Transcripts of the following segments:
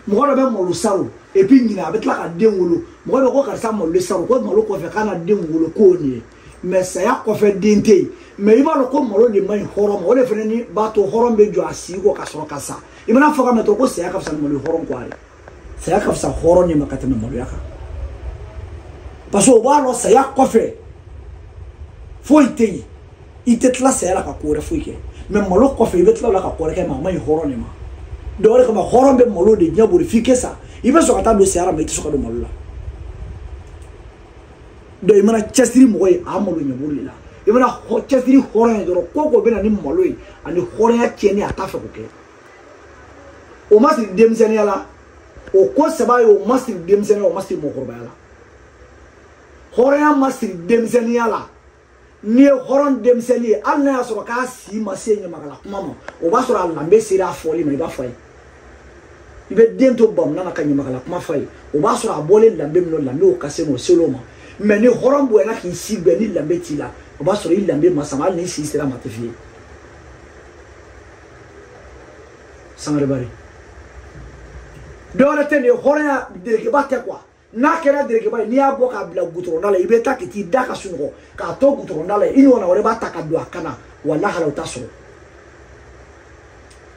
mɔgɔ dɔ bɛ malo salon et puis ɲinan a bɛ tila ka den wolo mɔgɔ dɔ ko karisa malo salon ko malo kɔfɛ k'a na den wolo k'o nin ye mais saya kɔfɛ den tɛ yen mais i b'a dɔn ko malo de man ɲi hɔrɔn ma o de fana ni b'a to hɔrɔn bɛ jɔ a sigi kɔ ka sɔrɔ ka sa i mana fɔ ka mɛn dɔrɔn ko saya ka fisa ni malo hɔrɔn kɔ a ye saya ka fisa hɔrɔn de ma ka tɛmɛ maloya kan parce que o b'a dɔn saya kɔfɛ foyi tɛ yen i tɛ tila saya la ka ko wɛrɛ foyi kɛ mais malo kɔfɛ i bɛ tila o la ka ko wɛrɛ kɛ mais a man ɲi hɔrɔn de ma donc o de kama hɔrɔn bɛ malo de ɲɛ boli f'i kɛ sa i bɛ sɔn ka taa don saya la mais i tɛ sɔn ka don malo la donc i mana cɛsiri mɔgɔ ye a malo ɲɛ boli la i mana cɛsiri hɔrɔn ye dɔrɔn ko ko bɛ na ni malo ye ani hɔrɔnya tiɲɛni a t'a fɛ k'o kɛ o ma siri denmisɛnninya la o ko saba ye o ma siri denmisɛnninya o ma siri mɔgɔkɔrɔbaya la hɔrɔnya ma siri denmisɛnninya la n'i ye hɔrɔn denmisɛnnin ye hali n'a y'a sɔrɔ k'a si ma se ɲamakala kuma ma o b'a sɔrɔ a lanbe sera a fɔli ma i b'a fɔ a ye i bɛ den to bamunan na ka ɲamakala kuma fɔ a ye o b'a sɔrɔ a bɔlen lanbe min na lanbe o ka se o selo ma mais ni hɔrɔn bonyana k'i si bɛn ni lanbe t'i la o b'a sɔrɔ i lanbe ma sama hali n'i si sera ma tɛ f'i ye sangare bari dɔwɛrɛ tɛ nin ye hɔrɔnya derekeba tɛ quoi n'a kɛra derekeba ye n'i y'a bɔ k'a bila gutɔrɔnda la i bɛ taa k'i t'i da ka sunɔgɔ k'a to gutɔrɔnda la i ɲɔgɔnna wɛrɛ b'a ta ka don a kan na walahi o t'a sɔrɔ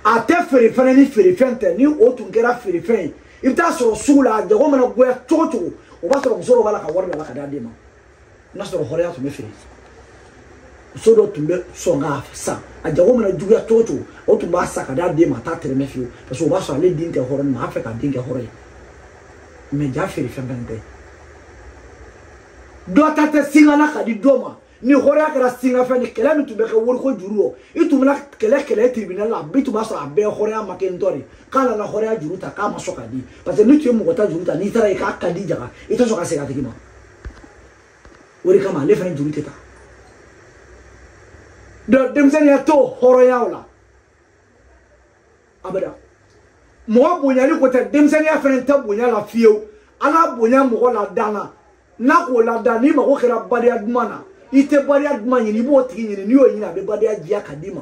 a tɛ feere fana nin feerefɛn tɛ ni o tun kɛra feerefɛn ye i bɛ t'a sɔrɔ sugu la a jago mana goya cogo cogo o b'a sɔrɔ muso dɔ b'a la ka wari bila ka d'a den ma n'a sɔrɔ hɔrɔnya tun bɛ feere muso dɔ tun bɛ sɔn k'a san a jago mana juguya cogo o cogo o tun b'a san ka d'a den ma a t'a tɛrɛmɛ fiyewu parce que o b'a sɔrɔ ale den tɛ hɔrɔn mais a fɛ k'a den kɛ hɔrɔn ye mais jaa feerefɛn fana tɛ dɔ ta tɛ singala ka di dɔ ma ni hɔrɔnya kɛra singafɛn ni kɛlɛ min tun bɛ kɛ woriko juru rɔ i tun bɛna kɛlɛ kɛlɛ tribunal la bi tun b'a sɔrɔ a bɛɛ hɔrɔnya ma kɛ n tɔ de k'a nana hɔrɔnya juru ta k'a ma sɔn ka di parce que n'i tun ye mɔgɔ ta juru ta n'i taara ye k'a ka di jaga i tɛ sɔn ka segin a tigi ma o de kama ale fana juru tɛ ta donc denmisɛnninya t'o hɔrɔnyaw la abada mɔgɔ bonyali ko tɛ denmisɛnninya fana tɛ bonya la fiyewu ala bonya mɔgɔ la dan na n'a k'o la dan n'i mago kɛra badenya duman na i tɛ badenya duman ɲini i b'o tigi ɲini n'i y'o ɲini a bɛ badenya diya ka d'i ma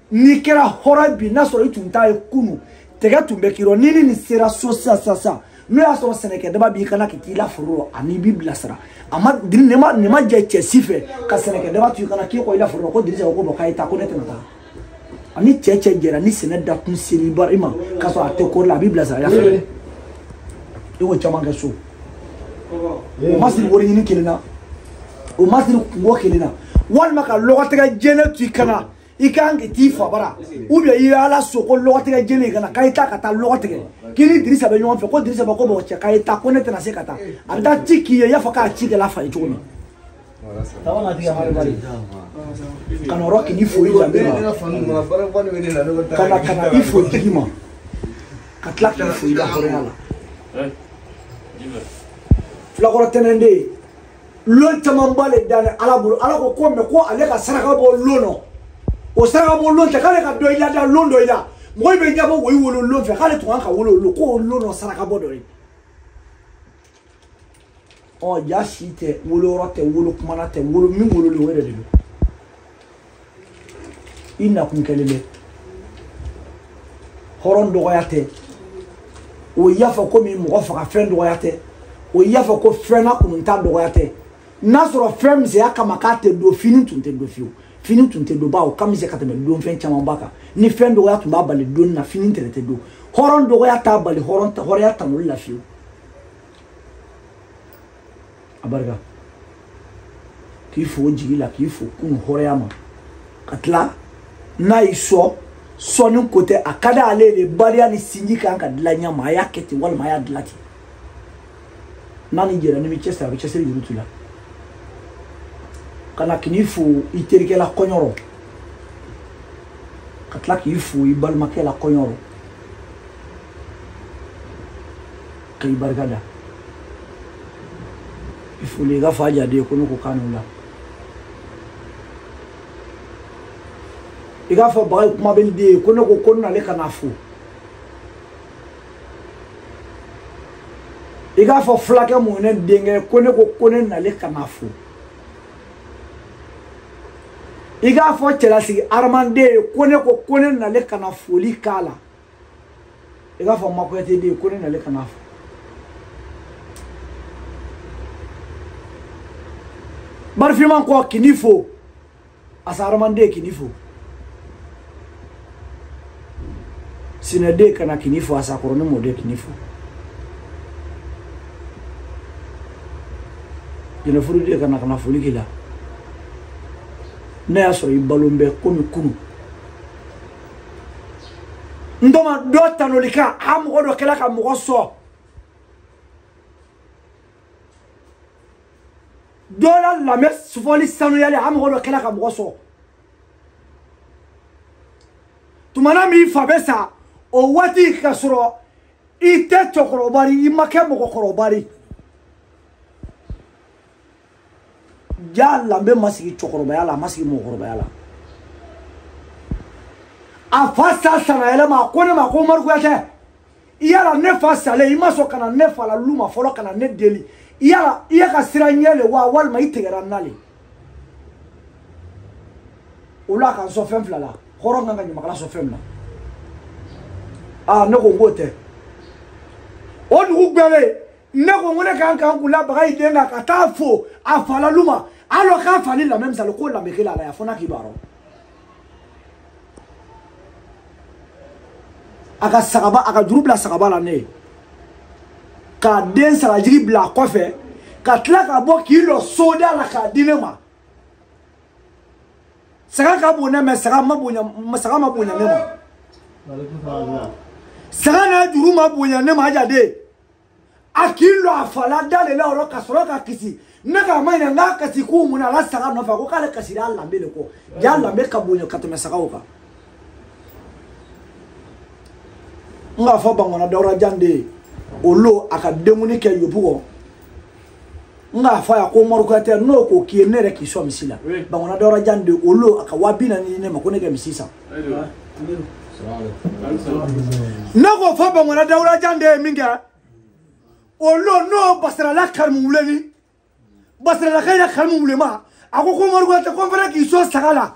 n'i kɛra hɔrɔn bi n'a sɔrɔ i tun t'a ye kunu tɛgɛ tun bɛ k'i rɔ ni ni nin sera so sisan sisan sisan n'o y'a sɔrɔ sɛnɛkɛ daba b'i kan na ka k'i la foro rɔ ani i b'i bilasira a ma nin ma nin ma jɛ cɛ si fɛ ka sɛnɛkɛ daba to i kan na k'i kɔ i la foro rɔ ko dirisa ko bon k'a ye taa ko ne tɛna taa ani cɛ cɛ jɛra ni sɛnɛ dakun seri ba i ma k'a sɔrɔ a tɛ kɔri la a b'i bilasira i la foro i k'o caman kɛ so o ma siri wari ɲini kelen na o ma siri kungo kelen na walima ka lɔgɔtɛgɛ jɛnɛ to i kan na i ka kan ka t'i fa bara ou bien i ye ala so ko lɔgɔtigɛ jɛnɛ ka na k'a ye taa ka taa lɔgɔ tigɛ k'i ni dirisa bɛ ɲɔgɔn fɛ ko dirisa bɛ ko mɔgɔ cɛ k'a ye taa ko ne tɛna se ka taa a bɛ taa ci k'i ye i y'a fɔ k'a ci kɛla fa ye cogo min ka na yɔrɔ k'i fo i danbe la ka na ka na i fo tigi ma ka tila k'i fo i la hɔrɔnya la fulakɔrɔ tɛnɛnden lon camanba le dani ala bolo ala ko ko mɛ ko ale ka saraka bɔ lon nɔ o saraka bɔ lon tɛ k'ale ka dɔ i la da lon dɔ i la mɔgɔ in bɛ ɲɛbɔ wo i wolo lon fɛ k'ale tun kan ka wolo lon k'o lon nɔ saraka bɔ dɔ ye ɔ ja si tɛ wolo yɔrɔ tɛ wolo kumana tɛ wolo min wololen o yɛrɛ de don i nakun kɛlen bɛ hɔrɔn dɔgɔya tɛ o y'a fɔ komi mɔgɔ faga fɛn dɔgɔya tɛ o y'a fɔ ko fɛn na kununta dɔgɔya tɛ n'a sɔrɔ fɛn misɛnya kama k'a tɛ don fini tun tɛ don fiyewu fini tun tɛ don bawo ka misɛn ka tɛmɛ don fɛn camanba kan ni fɛn dɔgɔya tun b'a bali donni na fini tɛrɛ tɛ don hɔrɔn dɔgɔya t'a bali hɔrɔnya tanuli la fiyewu a barika k'i fo jigi la k'i fo kunu hɔrɔnya ma ka tila n'a y'i sɔ sɔni ko tɛ a ka da ale de bariya ni sinji kan ka dilan ɲɛ ma a y'a kɛ ten walima a y'a dilan ten n'a ni jɛra n'i bɛ cɛsiri a bɛ cɛsiri juru t'u la ka na k'i fo i terikɛ la kɔɲɔ rɔ ka tila k'i fo i balimakɛ la kɔɲɔ rɔ ka i barika da i foli i k'a fɔ aja den ye ko ne ko kan n'u la i k'a fɔ bagayi kuma bɛ den ye ko ne ko ko ne nale ka n'a fo i k'a fɔ fulakɛ mun ye ne denkɛ ko ne ko ko ne nale ka n'a fo i k'a fɔ cɛlasigi aramanden ye ko ne ko ko ne nale ka na foli k'a la i k'a fɔ n ma kuyate den ko ne nale ka n'a fo barifinman kɔ k'i ni fo asa aramanden k'i ni fo sinɛden ka na k'i ni fo asa kɔrɔni mɔden k'i ni fo jɛnɛfuruden ka na ka na foli k'i la n'a y'a sɔrɔ i balon bɛ komi kunu n dɔ ma dɔ tanuli kan a mɔgɔ dɔ kɛla ka mɔgɔ sɔn dɔ la lamɛn sufɔli sanuyali a mɔgɔ dɔ kɛla ka mɔgɔ sɔn tumana min fa bɛ sa o waati ka sɔrɔ i tɛ cɛkɔrɔba ye i ma kɛ mɔgɔkɔrɔba ye ja lanbe ma sigi cɛkɔrɔbaya la a ma sigi mɔgɔkɔrɔbaya la a fa sa sanyɛlɛma a ko ne ma ko umaru kuyatɛ yala ne fa salen i ma sɔn ka na ne fa la lu ma fɔlɔ ka na ne deli yala i ye ka siran n ɲɛ le wa walima i tigɛra n na le o la ka n sɔn fɛn fila la hɔrɔn kan ka ɲamakala sɔn fɛn min na aa ne ko n k'o tɛ o dugu gbɛlen ne ko n ko ne ka kan ka n kun labaga i den kan ka taa fo a fa la lu ma alors k'a fa ni lamɛ misali k'o lamɛ kelen a la yan fo n'a k'i b'a dɔn a ka sagaba a ka juru bila sagaba la ne ye k'a den sagajigi bila a kɔfɛ ka tila ka bɔ k'i lɔ soda la k'a di ne ma saga ka bon ne ma saga ma bonya ne ma saga n'a juru ma bonya ne ma aja den a k'i lɔ a fa la da le la o rɔ ka sɔrɔ ka kasi ne k'a maɲininka kasi kun mun na a la saga nɔfɛ a ko k'ale kasira a lanbe le kɔ ja lanbe ka bonya ka tɛmɛ sagaw kan n k'a fɔ bangona dawura jan den ye o lo a ka denkundi kɛ yobu kɔ n k'a fɔ a ye ko umaru kuyatɛ n'o ko k'i ye ne yɛrɛ k'i sɔn misi la bangona dawura jan den o lo a ka waa bi naani di ne ma ko ne kɛ misi san ne k'o fɔ bangona dawura jan den ye min kɛ o lo n'o basirala karimu wuleni basiralakayi la karimu wulema a ko ko umaru kuyatɛ ko n fana k'i sɔn saga la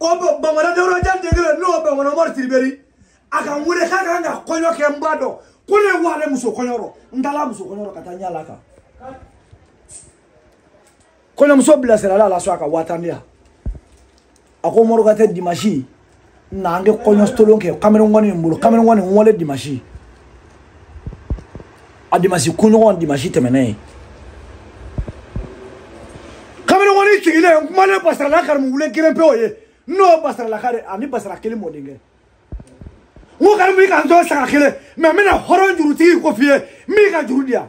o bɛ bangona dawura jan den kelen n'o bangona umaru sidibe ri a ka n wele k'a kan ka kɔɲɔ kɛ n b'a dɔn ko ne ye wa ale muso kɔɲɔ rɔ n taala muso kɔɲɔ rɔ ka taa n yala kan kɔɲɔmuso bilasirala a la so a ka waa tan di yan a ko umaru kuyatɛ dimasi na an kɛ kɔɲɔ tolon kɛ kamalenkɔni n bolo kamalenkɔni n walen dimasi a dimasi kunɲɔgɔn dimasi tɛmɛnen ye kamalenkɔni sigilen n kumalen basirala karimu wule kelen pe o ye n'o basiralaka de ani basira kelen mɔdenkɛ n ko karimu i ka n sɔn saga kelen ma n bɛna hɔrɔn jurutigi ko f'i ye min ka juru di yan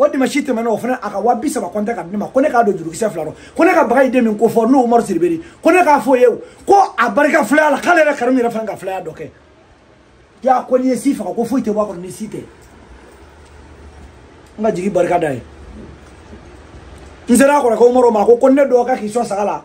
o dimansi tɛmɛna o fana a ka waa bi saba kɔnte k'a di ne ma ko ne k'a don jurukisɛ fila rɔ ko ne ka baga ye den min ko fɔ n'o umaru sidibe ri ko ne k'a fɔ a ye ko a barika filaya la k'ale yɛrɛ karimu yɛrɛ fana ka filaya dɔ kɛ yan ko n'i ye si faga ko foyi tɛ bɔ a kɔnɔ ni si tɛ n ka jigi barika da ye n sera a kɔrɔkɛ umaru ma ko ko ne dɔgɔkɛ k'i sɔn saga la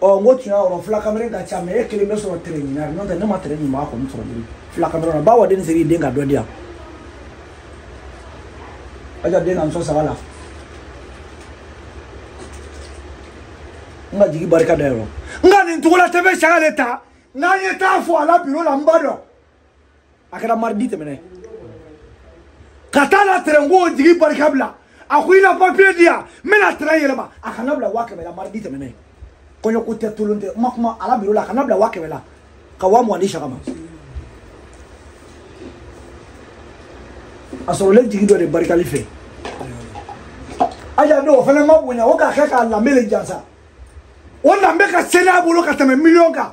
ɔ n ko tuɲa o rɔ fila kamalen ka ca mɛ e kelen bɛ sɔrɔ tere ɲuman n'o tɛ ne ma tere ɲuman a kɔni sɔrɔ diri fila kamalen na bawa den seri den ka dɔ di yan aja den ka n sɔn saga la n ka jigi barika da yɔrɔ nka nin cogo la tɛ bɛ saga de ta n k'an ye taa fɔ a la biro la n b'a dɔn a kɛra maridi tɛmɛnen ka taa na tɛrɛnko jigi barika bila a ko i na papiye di yan n bɛna tɛrɛn yɛlɛma a ka n nabila waa kɛmɛ la maridi tɛmɛnen kɔɲɔko tɛ tolon tɛ ma kuma a la biro la a ka n nabila waa kɛmɛ la ka waa mugan di siyaka ma a sɔrɔlen jigi dɔ de barikali fɛ aja n'o fana ma bonya o k'a kɛ k'a lanbe le jansa o lanbe ka seli a bolo ka tɛmɛ miliyɔn kan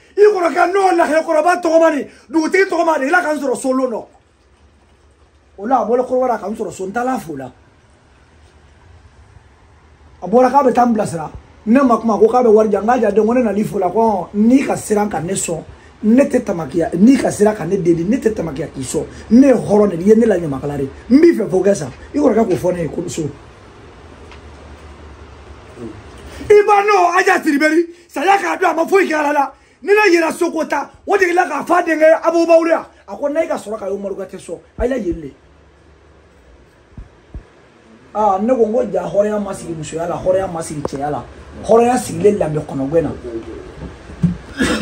i kɔrɔkɛ n'o lahɛkɔrɔba tɔgɔma ni dugutigi tɔgɔma de ila ka n sɔrɔ so lon dɔ o la a bɔla kɔrɔbara ka n sɔrɔ so n taala fo la a bɔra k'a bɛ taa n bilasira ne ma kuma ko k'a bɛ wari di yan n ko aja den ko ne nal'i fo la ko n'i ka siran ka ne sɔn ne tɛ tamakiya n'i ka siran ka ne deli ne tɛ tamakiya k'i sɔn ne ye hɔrɔn de ye ne la ɲamakala de n b'i fɛ fo ka sa i kɔrɔkɛ k'o fɔ ne ye ko so i ba n'o aja tiribɛri saya k'a dɔn a ma foyi kɛ ala la ni ne yera soko ta o de la k'a fɔ a denkɛ abubawulu ya a ko n'a ye ka sɔrɔ ka y'o maruka tɛ sɔn a y'a yeli le aa ne ko n ko aja hɔrɔnya ma sigi musoya la hɔrɔnya ma sigi cɛya la hɔrɔnya sigilen lanbe kɔnɔgɛn na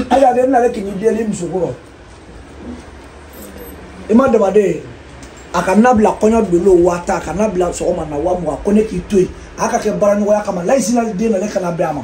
aja den ale k'i ni deli musokɔrɔ i ma damaden ye a ka n nabila kɔɲɔ dolo waa tan a ka n nabila sɔgɔma na waa mugan ko ne k'i to yen a ka kɛ baaraɲɔgɔnya kama layisina den na ne kana bɛn a ma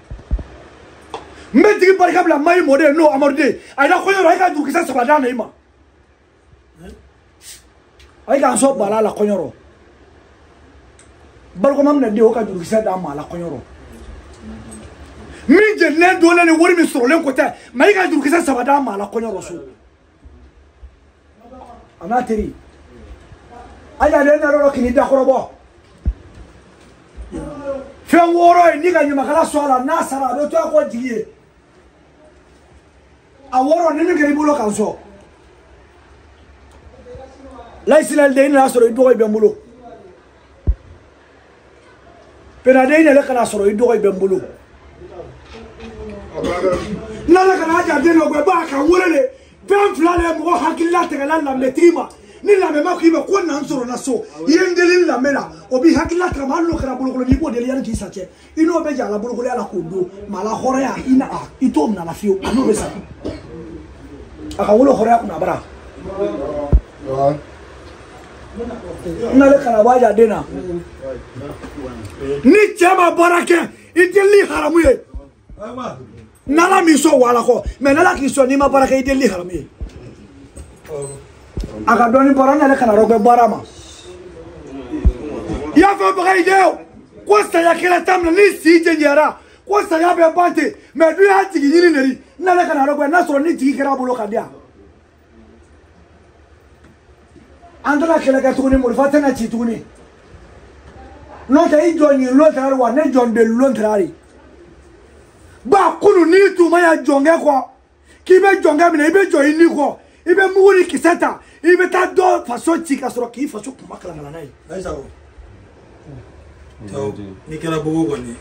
n bɛ jigi barika bila mayi mɔden ye n'o amadu den a yira kɔɲɔ rɔ e ka jurukisɛ saba d'a na i ma a ye k'an sɔn bala a la kɔɲɔ rɔ barikoma minɛ den o ka jurukisɛ d'a ma a la kɔɲɔ rɔ min jenilen donnen ni wari min sɔrɔlen ko tɛ mɛ i ka jurukisɛ saba d'a ma a la kɔɲɔ rɔ so a n'a teri aja den nalɔ k'i dakɔrɔbɔ fɛn wɔɔrɔ ye ni ka ɲamakala sɔn a la n'a sara a bɛ to a kɔ jigi ye a wɔɔrɔ ni min kɛra i bolo ka n sɔn layisina den i nana sɔrɔ i dɔgɔ in bɛ n bolo pena den i nalen ka n'a sɔrɔ i dɔgɔ i bɛ n bolo n nalen ka na aja den nɔgwɛ ba k'a wolo de fɛn fila de mɔgɔ hakili latɛgɛla lanbetigi ma ni lanbe ma k'i bɛ ko na n sɔrɔ na so i ye n deli lanbe la o b'i hakili latɛgɛ ma hali n'o kɛra bolokolon n'i b'o deli yanni k'i sa cɛ i n'o bɛ jɛ a la bolokolonya la k'o don mɛ a la hɔrɔnya i na a i t'o minɛ a la fiyewu a n'o bɛ sa a ka wolo hɔrɔnya kunna bara n nalen ka na bɔ aja den na ni cɛ ma baara kɛ i deli haramu ye n'ala m'i sɔn wala kɔ mɛ n'ala k'i sɔn n'i ma baara kɛ i delili haramu ye a ka dɔɔni bara n nalen ka n'a rɔgwɛ baara ma i y'a fɔ baga i den o ko saya kɛra ta minɛ ni si jɛnjɛra ko saya bɛ ban ten mɛ dun y'a tigi ɲini neri n nalen ka n'a rɔgwɛ n'a sɔrɔ ni tigi kɛra a bolo ka di yan an tɛna kɛlɛ kɛ tuguni morifa tɛna ci tuguni n'o tɛ i jɔn ye lon tɛra wa ne jɔn de lon tɛra de ba kunu n'i tun ma ya jɔnkɛ kɔ k'i bɛ jɔnkɛ minɛ i bɛ jɔ i ni kɔ i bɛ mugu ni kisɛ ta i bɛ taa dɔ faso ci ka sɔrɔ k'i faso kuma kalakala n'a ye n'i kɛra bogo kɔni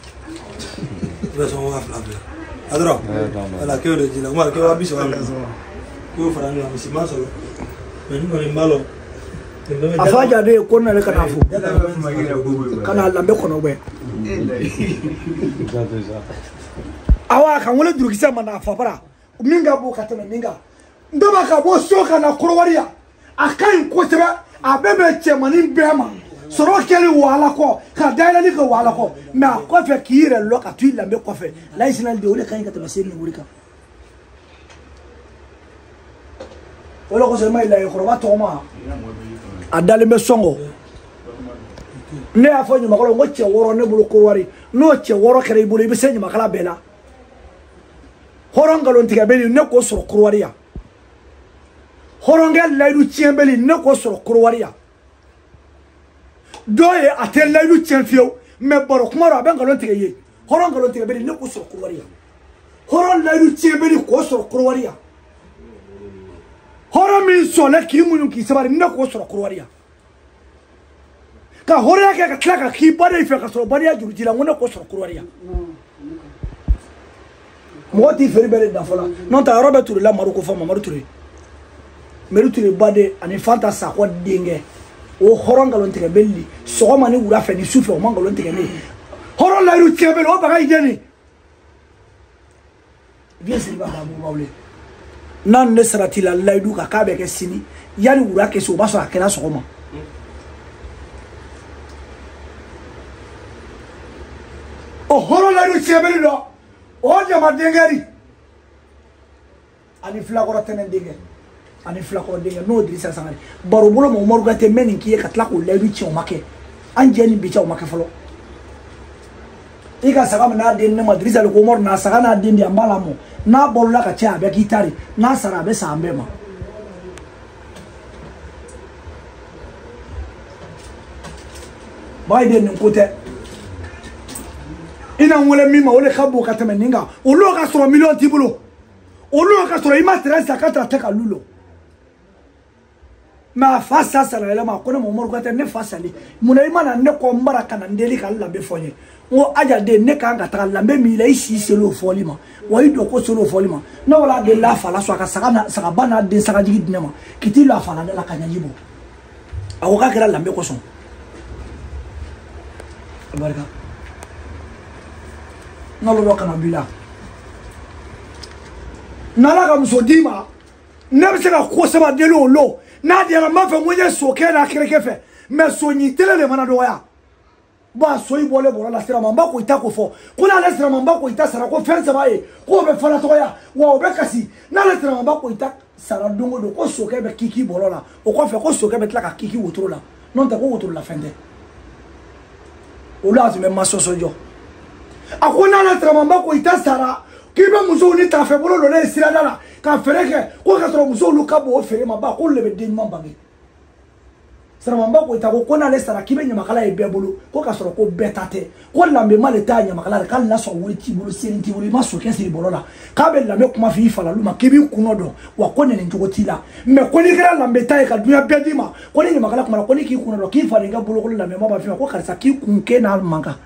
i bɛ sɔn waa fila fila a dɔrɔn ala k'o de ji la kuma k'o waa bi saba k'o fara ɲɔgɔn kan misi ma sɔrɔ mɛ n kɔni n b'a lɔn a fa jaabi ye ko nana ka na fo ka na lambe kɔnɔ bɛ awa ka wele durukisɛ ma na fabara min ka bon ka tɛmɛ min kan n bɛɛ b'a ka bɔ so ka na korowari yan a ka ɲi kosɛbɛ a bɛ bɛn cɛmanin bɛɛ ma sɔrɔ kɛli wahala kɔ ka dayɛlɛli kɛ wahala kɔ mɛ a kɔfɛ k'i yɛrɛ lɔ ka to i danbe kɔfɛ layi sinali de o de ka ɲi ka tɛmɛ seli ni wuri kan o de kosɔn i m'a ye layi kɔrɔba tɔgɔma a dalen bɛ sɔngɔ ne y'a fɔ ɲamakala n ko cɛ wɔɔrɔ ne bolo korowari n'o cɛ wɔɔrɔ kɛra i bolo i bɛ se ɲamakala bɛɛ la hɔrɔn nkalon tigɛbɛli ne k'o sɔrɔ korowari yan hɔrɔnkɛ layidu tiɲɛbɛli ne k'o sɔrɔ korowari yan dɔ ye a tɛ layidu tiɲɛ fiyewu mɛ baro kuma rɔ a bɛ nkalon tigɛ ye hɔrɔn nkalon tigɛbɛli ne k'o sɔrɔ korowari yan hɔrɔn layidu tiɲɛbɛli k'o sɔrɔ korowari yan hɔrɔn min sɔnna k'i muɲu k'i sabari ne k'o sɔrɔ korowari yan ka hɔrɔnya kɛ ka tila ka k'i baden fɛ ka sɔrɔ bariya juru ji la n ko ne k'o sɔrɔ korowari yan mɔgɔ t'i feere bɛɛ de da fɔla n'o tɛ a yɔrɔ bɛ ture la mari ko fɔ mamadu ture meri ture baden ani fanta sakɔ denkɛ o hɔrɔn nkalon tigɛbɛli sɔgɔma ni wula fɛ ni su fɛ o ma nkalon tigɛ ne ye hɔrɔn layiru tiɲɛbɛli o baga i jɛni vieux siriba ka mɔgɔw le n'a n'i saratila layidu kan k'a bɛ kɛ sini yanni wula kɛ se o b'a sɔrɔ a kɛra sɔgɔma o hɔrɔn layidu tiɲɛbɛli don o jama denkɛ ri ani filakɔrɔ tɛnɛ denkɛ ani filakɔrɔ denkɛ n'o dirisa sangare baro bolo ma umaru gate mɛnin k'i ye ka tila k'o layidu tiɲɛ o ma kɛ an jɛ ni bi cɛ o ma kɛ fɔlɔ i ka saga min n'a den ne ma dirisa le ko umaru na saga n'a den di an b'a lamɔ n'a balola ka caya a bɛ k'i ta de n'a sara a bɛ sa an bɛɛ ma baden nin ko tɛ i na n wele min ma o de ka bon ka tɛmɛ nin kan olu ka sɔrɔ miliyɔn t'i bolo olu y'a ka sɔrɔ i ma tɛrɛ sa ka tara tɛ ka lu lɔ mɛ a fa sa sara yɛlɛma a ko ne ma umaru kuyate ne fa sali munna i ma na ne kɔ n bara ka na n deli ka n lambe fɔ n ye n ko aja den ne kan ka taga lambe min i la i si seli o fɔli ma wa i dɔkɔ seli o fɔli ma ne wala delila a fa la so a ka sagaba n'a den sagajigi di ne ma k'i t'i lɔ a fa la da la ka ɲɛji bɔ a ko k'a kɛra lambe kosɔn barika n'alo dɔ kana b'i la n'ala ka muso d'i ma ne bɛ se ka ko saba deli o lo n'a diyara n b'a fɛ n ko n ye sokɛ n'a kɛrɛkɛ fɛ mɛ so ɲi tele le mana dɔgɔya bɔn a soyi bɔlen bɔlɔ la siramanba koyita ko fɔ ko n'ale siramanba koyita sara ko fɛn saba ye ko o bɛ falatɔya wa o bɛ kasi n'ale siramanba koyita sara don o don ko sokɛ bɛ kiki bɔlɔ la o kɔfɛ ko sokɛ bɛ tila ka kiki wotoro la n'o tɛ ko wotoro la fɛn tɛ olu a tun bɛ masɔsɔ jɔ a ko n'ale siramanba koyita sara k'i bɛ musow ni tafɛbolo lɔlen ye sirada la ka feere kɛ ko k'a sɔrɔ musow ka bon o feere ma ba k'olu de bɛ den ɲuman bange siramanba koyita ko ko n'ale sara k'i bɛ ɲamakala ye bɛɛ bolo ko k'a sɔrɔ ko bɛɛ ta tɛ ko lanbema le ta ɲamakala la k'ale lasɔn wari t'i bolo seli t'i bolo i ma sokɛ siri bɔlɔ la k'a bɛ lanbe kuma f'i falalu ma k'i b'i kunun dɔn wa ko nɛni cogo t'i la mɛ ko n'i kɛra lanbentan ye ka dunya bɛɛ d'i ma ko ni ɲamakala kuma na ko ni k'i kunun dɔn k'i falen ka bolokolon lanbema b'a f'i ma ko karisa k'i kun k'e n'a man kan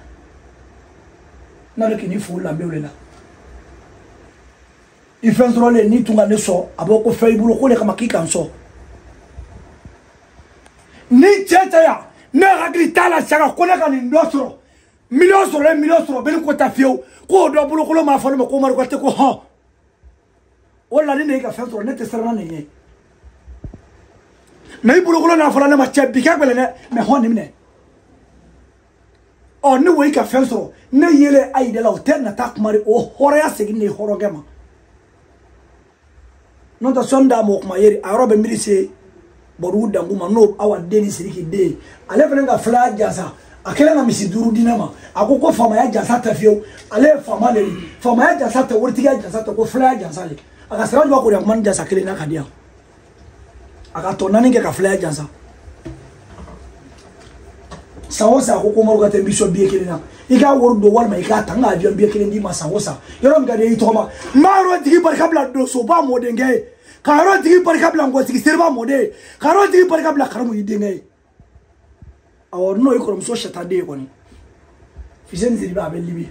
n'ale k'i ni fo lanbew le la i fɛn sɔrɔlen n'i tun ka ne sɔn a b'o ko fɛn i bolo k'o le kama k'i ka n sɔn ni cɛ tɛ yan ne hakili t'a la saga ko ne ka nin dɔ sɔrɔ miliyɔn sɔrɔlen miliyɔn sɔrɔ bɛɛ ni ko tɛ fiyewu k'o dɔ bolokolon m'a fɔ ne ma ko umaru kuyate ko hɔn wala ni ne y'i ka fɛn sɔrɔ ne tɛ siranna nin ye mɛ i bolokolon n'a fɔra ne ma cɛ bi ka gɛlɛn dɛ mɛ hɔn nin minɛ ɔ ne wo i ka fɛn sɔrɔ ne yele a yi de la o tɛ nata kuma di o hɔrɔnya segin de ye hɔrɔnkɛ ma n'o tɛ sɔni d'a ma o kuma yɛrɛ a yɔrɔ bɛ miiri se bɔdugu dangu ma n'o awa den ni siriki den ye ale fana ka filaya jansa a kelen ka misi duuru di ne ma a ko ko faamaya jansa tɛ fiyewu ale ye faama de ye faamaya jansa tɛ waritigiya jansa tɛ ko filaya jansa de a ka sira jɔ ko de a kuma ni jansa kelen na ka di yan a ka tɔ naani kɛ ka filaya jansa san o san ko ko umaru kuyate n b'i sɔn biye kelen na i k'a wari don walima i k'a ta n ka avion biye kelen d'i ma san o san yɔrɔ min ka d'i ye tɔgɔma n b'a yɔrɔ tigi barika bila donsoba mɔdenkɛ ye ka yɔrɔ tigi barika bila nkɔtigi seriba mɔden ye ka yɔrɔ tigi barika bila karamu i denkɛ ye awɔ n'o y'i kɔrɔmuso sata den ye kɔni fiseni siribe a bɛ libi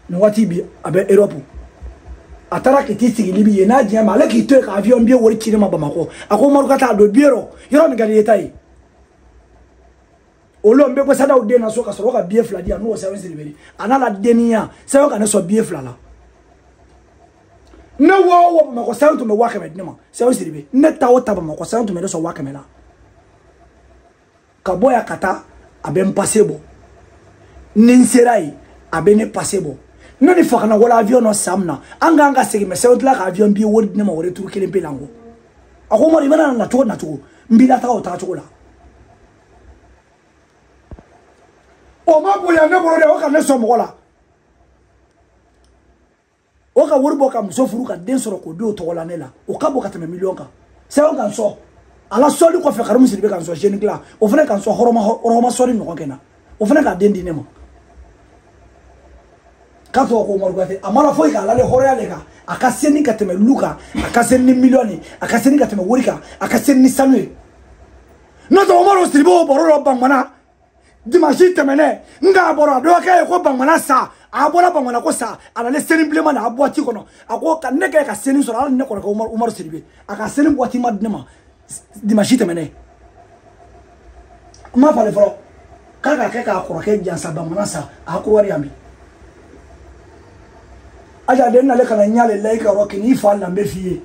nin waati bi a bɛ europe a taara ka t'i sigi libi yen a diya ma ale k'i to yen ka avion biye wari ci ne ma bamakɔ a ko umaru gate don biye rɔ yɔrɔ min ka d'i ye taa yen olu n bɛ bɔ sata den na so ka sɔrɔ ka biye fila di yan n'o sɛbɛn siribe di a n'a la denniya sɛbɛn ka ne sɔn biye fila la ne wa o wa bamakɔ sanu tun bɛ waa kɛmɛ di ne ma sɛbɛn siribe ne taa o taa bamakɔ sanu tun bɛ ne sɔn waa kɛmɛ la ka bɔ yan ka taa a bɛ n pase bɔ ni n sera yen a bɛ ne pase bɔ ne ni fakana wala avion nɔ san min na an k'an ka segin mɛ sɛbɛn tila ka avion biye wari di ne ma wari turu kelen pe la n kɔ a ko umaru i bɛna na cogo na cogo n b'i lataga o taga cogo la o ma bonya ne bolo dɛ o ka ne sɔn mɔgɔ la o ka wari bɔ ka muso furu ka den sɔrɔ k'o den tɔgɔ la ne la o ka bon ka tɛmɛ miliyɔn kan sɛbɛn ka n sɔn a la sɔnni kɔfɛ karimu siribe ka n sɔn zeni dilan o fana ka n sɔn hɔrɔn ma sɔnni ɲɔgɔn kɛ na o fana k'a den di ne ma k'a tɔgɔ ko umaru gate a m'a la foyi kan a lalen hɔrɔnya le kan a ka seni ka tɛmɛ lu kan a ka seni ni miliyɔn ye a ka seni ka tɛmɛ wari kan a ka seni ni sanu ye n'o tɛ umaru siribe o baro dɔ bangana dimansi tɛmɛnen n k'a bɔra dɔgɔkɛ ye ko bangana sa a bɔra bangana ko sa a nalen seni bilenma na a buwati kɔnɔ a ko ka ne kɛ ka seni sɔrɔ hali ne kɔrɔkɛ umaru umaru siribe a ka seni buwatima di ne ma dimansi tɛmɛnen n m'a falen fɔlɔ k'a ka kɛ k'a kɔrɔkɛ jansa bangana sa a ko wari yan bi aja den nalen kana ɲale layi ka yɔrɔ kɛ n'i fa lambe f'i ye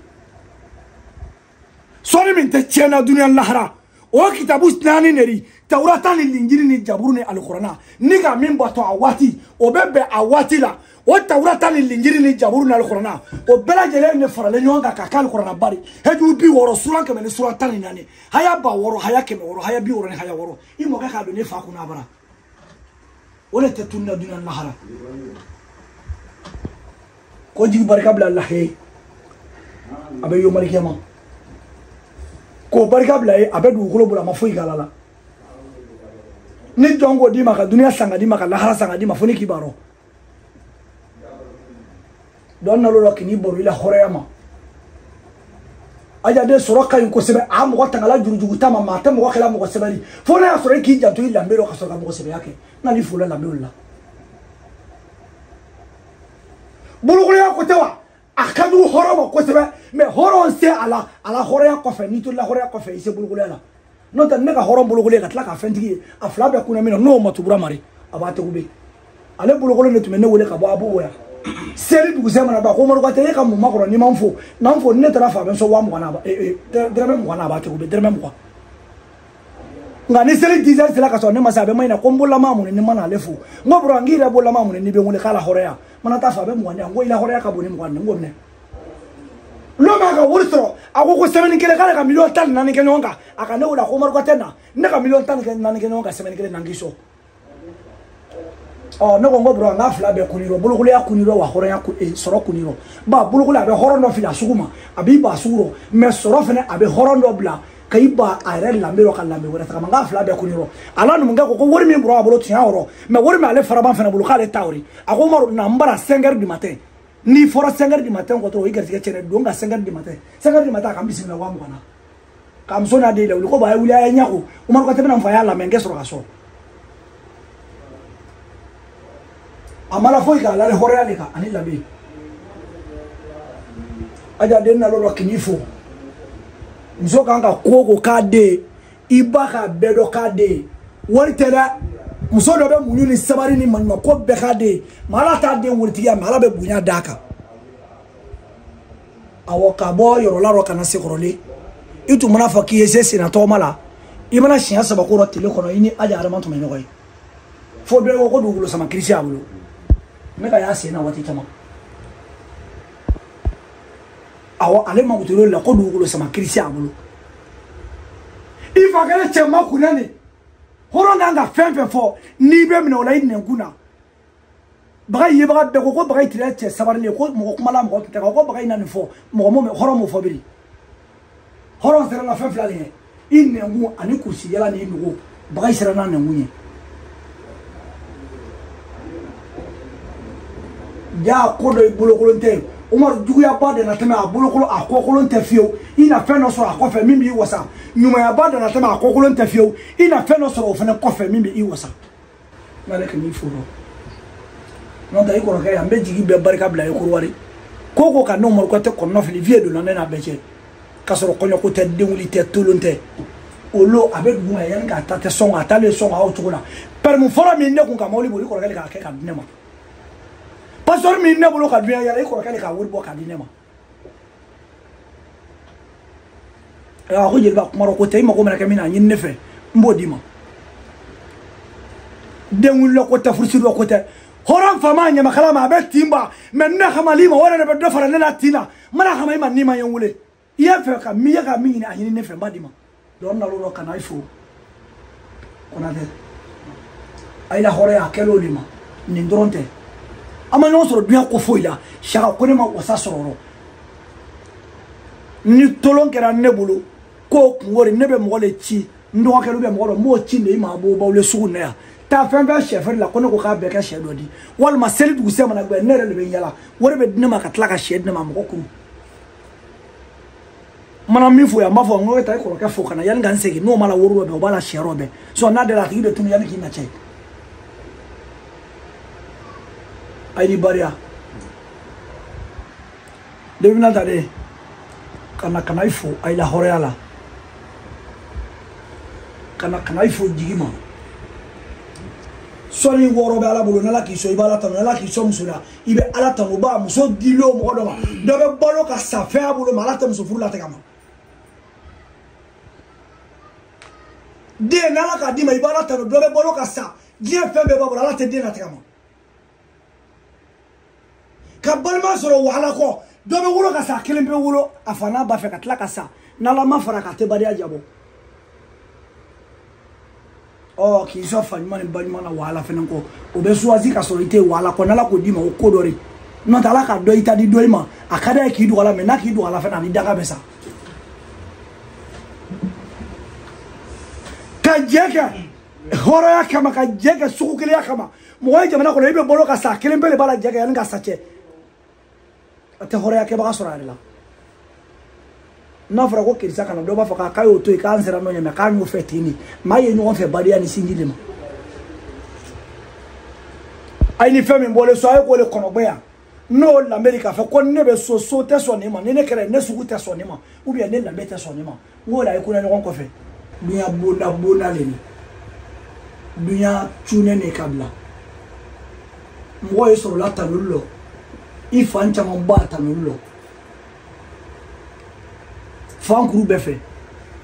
sɔnni min tɛ tiɲɛna duniya lahara o kitabu naani de di tawurata ni linjiri ni jaburu ni alikɔrɔna n'i ka min bato a waati o bɛ bɛn a waati la o tawurata ni linjiri ni jaburu ni alikɔrɔna o bɛɛ lajɛlen de faralen ɲɔgɔn kan ka kɛ alikɔrɔnaba di hijibu bi wɔɔrɔ sura kɛmɛ ni sura tan ni naani haya ba wɔɔrɔ haya kɛmɛ wɔɔrɔ haya bi wɔɔrɔ ni haya wɔɔrɔ i mɔkɛ k'a don ne fa kunna bara o le tɛ tununa duniya lahara ko jigi barika bila lahe a bɛ yomali kiyama k'o barika bila ye a bɛ dugukolo bolo a ma foyi kala la ni jɔn k'o d'i ma ka duniya san ka d'i ma ka lahara san ka d'i ma fo ni k'i baro don nalo la k'i baro i la hɔrɔnya ma aja den sɔrɔ ka ɲi kosɛbɛ a mɔgɔ tangala jurujugu ta ma mɛ a tɛ mɔgɔ kɛla mɔgɔ sɛbɛ di fo n'a y'a sɔrɔ i k'i janto i lambe dɔ ka sɔrɔ ka mɔgɔ sɛbɛya kɛ n'ale fo la lambew la bolokoloya ko tɛ wa a ka jugu hɔrɔn ma kosɛbɛ mɛ hɔrɔn se a la a la hɔrɔnya kɔfɛ n'i tola hɔrɔnya kɔfɛ i se bolokoloya la n'o tɛ ne ka hɔrɔn bolokolon ka tila ka fɛntigi ye a fila bɛɛ kunna min na n'o ma tubura mari a b'a tegu be ale bolokolon de tun bɛ ne wele ka bɔ a b'o wɛrɛ seli dugusɛ mana ba ko maru kuyatɛ e ka mun ma kɔrɔ n'i ma n fo na n fo ni ne taara a fo a bɛ n sɔn waa mugan na eh, eh, dɛrɛmɛ mugan na a b'a tegu be dɛrɛmɛ mugan nka ni seli dizɛri sera ka sɔrɔ ne ma se a bɛ ma ɲina ko n bololama mun ni ma n'ale fo n ko bro n k'i yɛrɛ bololama mun n'i bɛ n wele k'a la hɔrɔnya mana taa fo a bɛ mugan di yan n ko i la hɔrɔnya ka bon ni mugan ni n ko minɛ lon min a ka wari sɔrɔ a ko ko sɛmɛni kelen k'ale ka miliyɔn tan ni naani kɛ ɲɔgɔn kan a ka ne wele a ko maru kuyatɛ na ne ka miliyɔn tan ni naani kɛ ɲɔgɔn kan sɛmɛni kelen na n k'i sɔn ɔ ne ko n ko bro n k'a fila bɛɛ kun i rɔ bolokolonya kun i rɔ wa hɔrɔnya sɔrɔ kun i rɔ ba bolokolonya bɛ hɔrɔn dɔ fili a sugu ma a b'i ba sugu rɔ mɛ sɔrɔ fɛnɛ a bɛ hɔrɔn dɔ bila k'a i ban a yɛrɛ lambe rɔ ka lambe wɛrɛ tagama n k'a fila bɛɛ kun i rɔ ala numukɛ ko ko wari min bɔrɔ a bolo tiɲɛ yɔrɔ mɛ wari min ale faraban fɛnɛ bolo k'ale ta o ri a ko maru na n bara 5 heures du matin n'i fɔra 5 heures du matin kɔ dɔrɔn i garijɛgɛ cɛnnen don ka 5 heures du matin 5 heures du matin a ka n bisimila waa mugan na k'a muso n'a den lawuli ko ba a ye wuli a ye ɲa ko umaru kuyatɛ bɛ na n fa y'a lamɛn n kɛ sɔrɔ k'a sɔn a ma la foyi kan a lalen hɔrɔnya de kan ani lambe aja den nalɔ dɔ k'i fo muso kan ka ko ko k'a den i ba k'a bɛɛ dɔ k'a den ye wari tɛ dɛ muso dɔ bɛ muɲu ni sabari ni maɲuman ko bɛɛ k'a den ye mɛ ala t'a den waritigiya mɛ ala bɛ bonya d'a kan awɔ ka bɔ yɔrɔla dɔ ka na sekɔrɔlen i tun mana a fɔ k'i ye se senna tɔgɔma la i mana siɲɛ saba ko dɔ tile kɔnɔ i ni aja adama tun bɛ ɲɔgɔn ye fo dɔ ko ko dugukolo sama kirisi y'a bolo ne k'a y'a sen na waati caman awɔ ale mako t'o la ko dugukolo sama kirisi a bolo i fa kɛlen cɛ makunnen de hɔrɔn kan ka fɛn fɛn fɔ n'i bɛ minɛ o la i nɛnkun na baga i yebaga bɛɛ ko ko baga tirila cɛ sabarilen ko mɔgɔ kumala mɔgɔ tun tɛ ko baga i na nin fɔ mɔgɔ m'o mɛn hɔrɔn m'o fɔ biri hɔrɔn sera la fɛn fila de ye i nɛnkun ani kurusijala ni nugu baga i sera n'a nɛnkun ye ja ko dɔ i bolokolon tɛ umaru juguya ba dan natɛmɛ a bolokolo a kɔkolon tɛ fiyewu i na fɛn dɔ sɔrɔ a kɔfɛ min b'i wasa ɲumanya ba dan natɛmɛ a kɔkolon tɛ fiyewu i na fɛn dɔ sɔrɔ o fana kɔfɛ min bɛ i wasa nalen ka n'i fo dɔrɔn n'o tɛ i kɔrɔkɛ yan n bɛ jigi bɛɛ barika bila i kɔrɔ wari ko ko kana umaru kuyatɛ kɔnɔnafili viye donna ne n'a bɛɛ cɛ k'a sɔrɔ kɔɲɔko tɛ denwuli tɛ tolon tɛ o lo a bɛ dugu ma yanni k'a ta tɛ sɔn k'a taalen sɔn k'a o cogo la pɛrɛmi fɔlɔ min ne kun ka mɔbili boli i kɔrɔkɛ de k'a kɛ k'a di ne ma pasipɔri min ne bolo ka dunya yala i kɔrɔkɛ de k'a wari bɔ k'a di ne ma a ko jeliba kuma ko tɛ i mago mana kɛ min na a ɲini ne fɛ n b'o d'i ma den wulila ko tɛ furusirila ko tɛ hɔrɔn fama ɲamakala ma a bɛ tin ban mɛ ne hamali ma o yɛrɛ de bɛ dɔ fara ne la tin na n mana hama i ma n'i ma ye n wele i y'a fɛ ka min ye ka min ɲini a ɲini ne fɛ n b'a d'i ma dɔn nalo dɔ ka na i fo konatɛ ayi la hɔrɔnya a kɛl'o de ma nin dɔrɔn tɛ an ma ɲɔgɔn sɔrɔ duɲa ko foyi la saka ko ne ma wasa sɔrɔ ni tolon kɛra ne bolo k'o kungo de ne bɛ mɔgɔ de ci n dɔgɔkɛ bɛ mɔgɔ dɔ n b'o ci de i ma a b'o baw le sugu na yan taa fɛn fɛn sɛ feere la ko ne ko k'a bɛɛ kɛ sɛ dɔ di walima seli dugusɛ mana gbɛ ne yɛrɛ de bɛ yala wari bɛ di ne ma ka tila ka sɛ di ne ma mɔgɔ kun mana min fo yan n b'a fɔ n ko e taa i kɔrɔkɛ fo ka na yanni ka n segin n'o ma la woro dɔ bɛn o b'a la siyɛ dɔ bɛn sɔ n'a dara a tigi bɛ tunu yanni k'i na cɛ ayi de badenya le bi na ta de ka na ka na i fo ayi la hɔrɔnya la ka na ka na i fo jigi ma sɔnni wɔɔrɔ bɛ ala bolo n'ala k'i sɔn i b'ala tanu n'ala k'i sɔn muso la i bɛ ala tanu ba muso dili o mɔgɔ dɔ ma dɔ bɛ balo ka sa fɛn y'a bolo mɛ ala tɛ muso furu latigɛ a ma den n'ala k'a d'i ma i b'ala tanu dɔ bɛ balo ka sa diɲɛ fɛn bɛɛ b'a bolo ala tɛ den latigɛ a ma ka balima sɔrɔ wahala kɔ dɔ bɛ wolo ka sa a kelen bɛ wolo a fa n'a ba fɛ ka tila ka sa n'ala ma fara a kan a tɛ badenya diya bɔ ɔ k'i sɔn fa ɲuman ni ba ɲuman na wahala fɛnɛ kɔ o bɛ suwazi ka sɔrɔ i tɛ wahala kɔ n'ala k'o d'i ma o ko dɔ de n'o tɛ ala ka dɔ i ta di dɔ i ma a ka d'a ye k'i don a la mɛ n'a k'i don a la fɛnɛ a ni daga bɛ sa ka jɛ kɛ hɔrɔnya kama ka jɛ kɛ sugu kelenya kama mɔgɔ ye jamana kɔnɔ i bɛ balo ka sa kelenpe le b'a la jɛ kɛ yanni ka sa cɛ a tɛ hɔrɔnya kɛbaga sɔrɔ a yɛrɛ la n'a fɔra ko kerisa kana dɔ b'a fɔ k'a y'o to yen k'an sera nɔ ɲɛ mɛ k'a y'o fɛ ten de maa ye ɲɔgɔn fɛ badenya ni sinji de ma a ye ni fɛn min bɔlen so a ye k'o de kɔnɔgbɛ yan n'o lanbe di k'a fɔ ko ne bɛ so so tɛ sɔn nin ma ni ne kɛra ne sugu tɛ sɔn nin ma u biyɛn ne lanbe tɛ sɔn nin ma n k'o la i kona ɲɔgɔn kɔfɛ dunya bonda bonda le ni dunya cune ne ka bila mɔgɔ ye sɔrɔla tanuli lɔ i fan caman ba tanuli lɔ fan kuru bɛɛ fɛ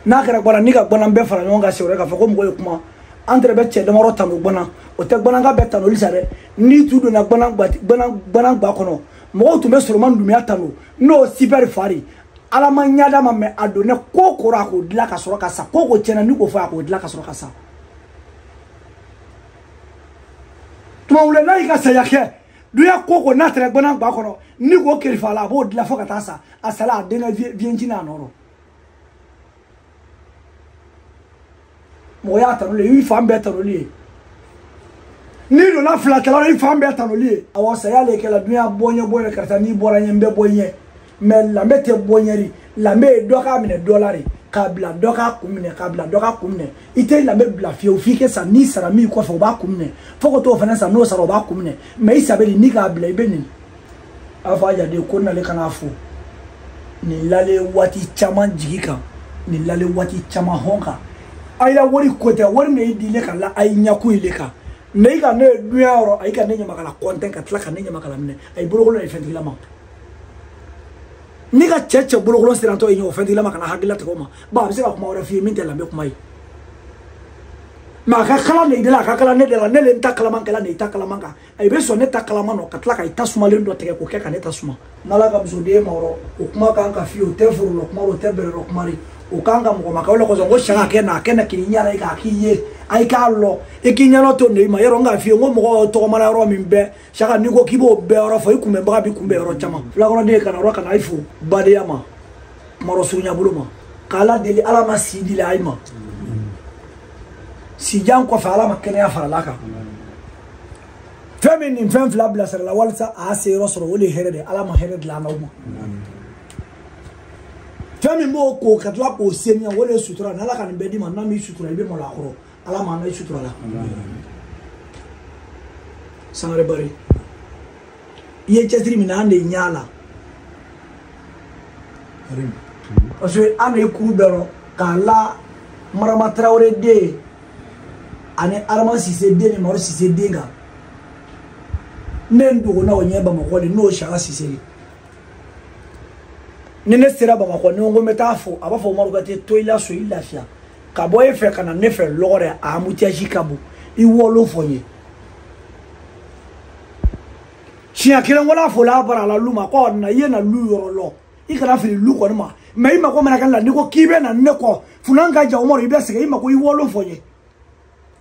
n'a kɛra gbana ni ka gbana bɛɛ fara ɲɔgɔn kan sewɛrɛ k'a fɔ ko mɔgɔ ye kuma an tɛrɛ bɛ cɛ damadɔ tanu gbana o tɛ gbananka bɛɛ tanuli sa dɛ n'i tu donna gbana gba kɔnɔ mɔgɔw tun bɛ soloman dunbiya tanu n'o sipɛri fari ala ma ɲada ma mɛ a donnɛ ko ko ra a k'o dila ka sɔrɔ ka sa ko ko tiɲɛna ni k'o fɔ a k'o dila ka sɔrɔ ka sa tumawulɛ n'a y'i ka saya kɛ duya ko ko n'a tɛrɛ gbana gba kɔnɔ ni k'o kerifa a la a b'o dila fo ka taa sa a sala a denkɛ viye jigin'a nɔ rɔ mɔgɔya tanuli ye i fan bɛɛ tanuli ye n'i donna fila kɛlɛ la i fan bɛɛ tanuli ye awɔ saya le kɛla dunya bɔ ɲɛ bɔ ɲɛ karisa n'i bɔra ɲɛ n bɛ bɔ ɲɛ mɛ lambe tɛ bɔ ɲɛ de lambe ye dɔ k'a minɛ dɔ la de k'a bila dɔ k'a kun minɛ k'a bila dɔ k'a kun minɛ i tɛ lambe bila fiyewu f'i kɛ sa n'i sara min i kɔfɛ o b'a kun minɛ fo ka t'o fana sa n'o sara o b'a kun minɛ mɛ i sabali n'i k'a bila i bɛ nɛni a b'a fɔ a jaden ko n'ale kana fo nin lale waati caman jigi kan nin lale waati caman hɔn kan a y'a wari ko tɛ wari min y'i di ne ka la a y'i ɲɛkun ye ne kan mɛ i ka ne ye dunya yɔrɔ a y'i ka ne ɲamakala kɔntɛn ka tila ka ne ɲamakala minɛ a ye bolokolo de fɛntigila ma ne ka cɛ cɛ bolokolo sirantɔ ye ɲɛ o fɛntigila ma ka na hakilila tigɛ o ma ba a bɛ se ka kuma wɛrɛ f'i ye min tɛ lamɛn kuma ye mɛ a ka kalan de i de la a ka kalan ne de la ne le n ta kalaman kɛla ne i ta kalaman kan i bɛ sɔn ne ta kalaman nɔ ka tila ka i ta sumalen dɔ tigɛ k'o kɛ ka ne ta suma n'ala ka musoden ma yɔrɔ o kuma kan ka fiye o tɛ forolɔ kuma o tɛ bɛrɛlɔ kuma de o kan ka mɔgɔ ma kɛ o la kosɔn ko sɛ ka kɛ na a kɛ na k'i ɲɛna i k'a k'i ye a i k'a lɔ i k'i ɲɛna to ne ma yɔrɔ n k'a fiye n ko mɔgɔ tɔgɔmana yɔrɔ min bɛɛ saka n'i ko k'i b'o bɛɛ yɔrɔ fɔ i kunbɛnbaga b'i kunbɛn yɔrɔ caman filakɔrɔden kana yɔrɔ kana i fo badenya ma marɔ surunyabolo ma k'ala deli ala ma si dila a i ma sijan kɔfɛ ala ma kɛnɛya faral'a kan fɛn min nin fɛn fila bilasirala walisa a y'a se yɔrɔ sɔrɔ o de ye hɛrɛ de ye ala ma hɛrɛ dila an n'aw ma fɛn min b'o ko ka tila k'o seniya o de ye sutura ni ala ka nin bɛɛ d'i ma n'a m'i sutura i bɛ malo a kɔrɔ ala ma an n'aw suturala sangare bari i ye cɛsiri min na an de ɲɛ la parce que an de ye kuru bɛɛ dɔn k'a la marama tarawele den ani arama sise den ni maro sise den kan ne n dogona o ɲɛ bamakɔ le n'o saka sise de ni ne sera bamakɔ n ko n bɛ t'a fo a b'a fɔ umaru k'a tɛ to i la so i lafiya ka bɔ e fɛ ka na ne fɛ lɔgɔrɛ a embouteillage ka bon i olu fɔ n ye siɲɛ kelen wala fila bara la lu ma ko na i ye n na lu yɔrɔ lɔn i kana fili lu kɔni ma mɛ i mako mana kɛ n la n'i ko k'i bɛ na ne kɔ funan ka jan umaru i bɛ sɛgɛn i mako i olu fɔ n ye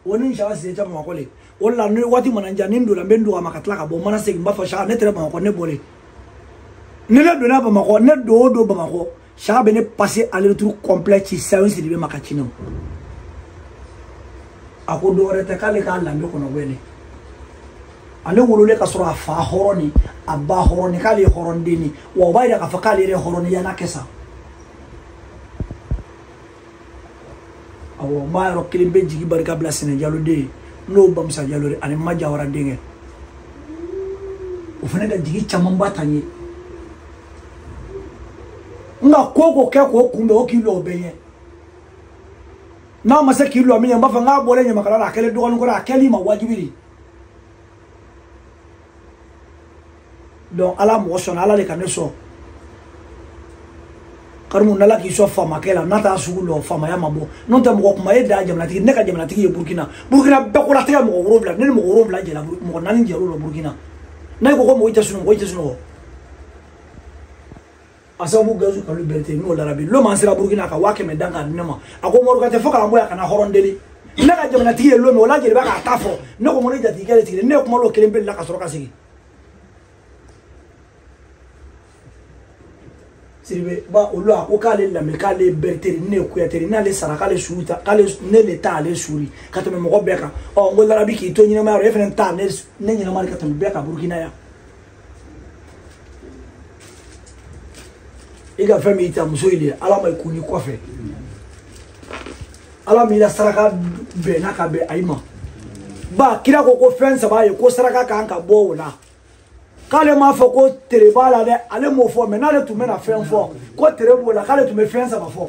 o ni saka sen tɛ bamakɔ le o la ni waati mana ja ni n donna n bɛ n dogo a ma ka tila ka bɔ n mana segin n b'a fɔ saka ne tɛrɛ bamakɔ ne bɔlen ni ne donna bamakɔ ne don o don bamakɔ saka bɛ ne pase aller retour complet ci sayo siri bɛ ma ka cinɔ a ko dɔwɛrɛ tɛ k'ale k'a lamɛn kɔnɔ wɛlɛ ale wololen ka sɔrɔ a fa hɔrɔn ni a ba hɔrɔn ni k'ale ye hɔrɔnden ni wa o b'a yira k'a fɔ k'ale yɛrɛ hɔrɔn ni yan'a kɛ sa awɔ n b'a yɔrɔ kelen bɛ jigi barika bila sɛnɛjaloden ye n'o bamusa jalo ani ma jawara denkɛ o fana ka jigi camanba ta n ye nka ko o ko kɛ k'o kunbɛn o k'i lɔ o bɛ ɲɛ n'a ma se k'i lɔ min ye n b'a fɔ n k'a bɔlen ɲamakala la a kɛlen dɔgɔnin kɔrɔ a kɛli ma wajibi de donc ala mɔgɔ sɔnna ala de ka ne sɔn karimu n'ala k'i sɔn faamakɛ la n'a t'a sugu lɔn faamaya ma bɔ n'o tɛ mɔgɔ kuma e da jamanatigi ne ka jamanatigi ye burukina burukina bɛɛ kolatigɛ mɔgɔ wolonwula ne ni mɔgɔ wolonwula jɛla mɔgɔ naani jɛr'o la burukina n'a ye ko ko mɔgɔ i tɛ sunɔgɔ i tɛ sunɔgɔ a sababu gazu kalu berete n'o larabi loma sera burkina ka waa kɛmɛ dan ka di ne ma a ko mɔrɔkatɛ fo k'an bɔ yan ka na hɔrɔn deli ne ka jamanatigi ye lome o la jeliba k'a ta fɔ ne ko ko ne jatigikɛ de sigilen ne ye kuma dɔ kelen beli la ka sɔrɔ ka sigi siribe ba olu a ko k'ale lamɛn k'ale berete ri ne ye kuyate ri n'ale sara k'ale su ri ta k'ale ne le ta ale su ri ka tɛmɛ mɔgɔ bɛɛ kan ɔ n ko larabi k'i to ɲɛnamaya yɔrɔ e fana ta ne ɲɛnama de ka tɛmɛ bɛɛ kan burukina yan i ka fɛn min ta muso in de ala ma i kun ni kɔfɛ ala ma i la saraka bɛnna ka bɛn ayi ma ba kira ko ko fɛn saba ye ko saraka kan ka bɔ o la k'ale m'a fɔ ko tere b'a la dɛ ale m'o fɔ mɛ n'ale tun bɛna fɛn fɔ ko tere b'o la k'ale tun bɛ fɛn saba fɔ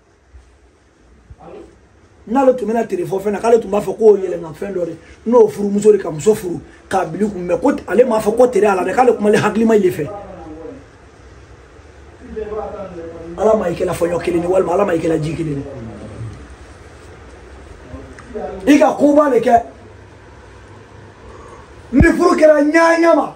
n'ale tun bɛna tere fɔ fɛn na k'ale tun b'a fɔ ko yɛlɛnna fɛn dɔ de n'o furumuso de ka muso furu k'a bil'i kun mɛ ko ale m'a fɔ ko tere a la dɛ k'ale kumalen hakilima i le fɛ ala ma i kɛla fɔɲɔ kelen ye walima ala ma i kɛla ji kelen ye i ka koba de kɛ ni furu kɛra ɲaɲa ma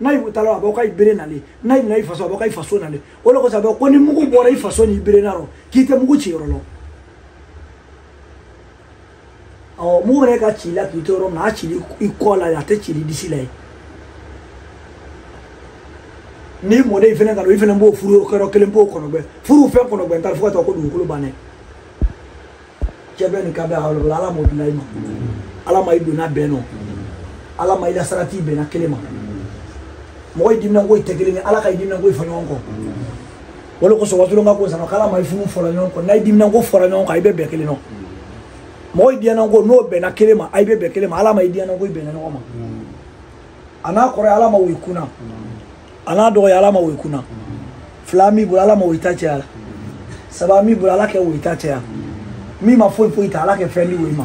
n'a y'u taala a b'aw ka i bere na le n'a y'i na i faso a b'aw ka i faso na le o de kosɔn a bɛ ko ni mugu bɔra i faso ni i bere na rɔ k'i tɛ mugu ci yɔrɔ lɔn ɔ mugu bɛna ka ci la k'i to yɔrɔ min na a ci l'i kɔ la a tɛ ci l'i disi la ye ni mɔden fɛnɛ ka don i fɛnɛ b'o furu yɔrɔ kelen b'o kɔnɔgbɛn furu fɛn kɔnɔgbɛn ta fo ka taa ko dugukolo bannen cɛ bɛ nin ka bɛ aw la ala m'o bila i ma ala ma i donna bɛn nɔ ala ma i la sarati bɛnna kelen ma mɔgɔ i diminanko tɛ kelen ye ala ka i diminanko i fɔ ɲɔgɔn kɔ o de kosɔn wasulonka ko sanɔ k'ala ma i funu fɔra ɲɔgɔn kɔ n'a i diminanko fɔra ɲɔgɔn kɔ i bɛ bɛn kelen nɔ mɔgɔ i diyananko n'o bɛnna kelen ma a i bɛ bɛn kelen ma ala ma i diyananko i bɛnna ɲɔgɔn ma a n'a kɔrɔ ye ala ma woyi kunna a n'a dɔgɔ ye ala ma woyi kunna fila min bolo ala ma woyi ta cɛya la saba min bolo ala kɛ woyi ta cɛya min ma foyi foyi ta ala kɛ fɛn di woyi ma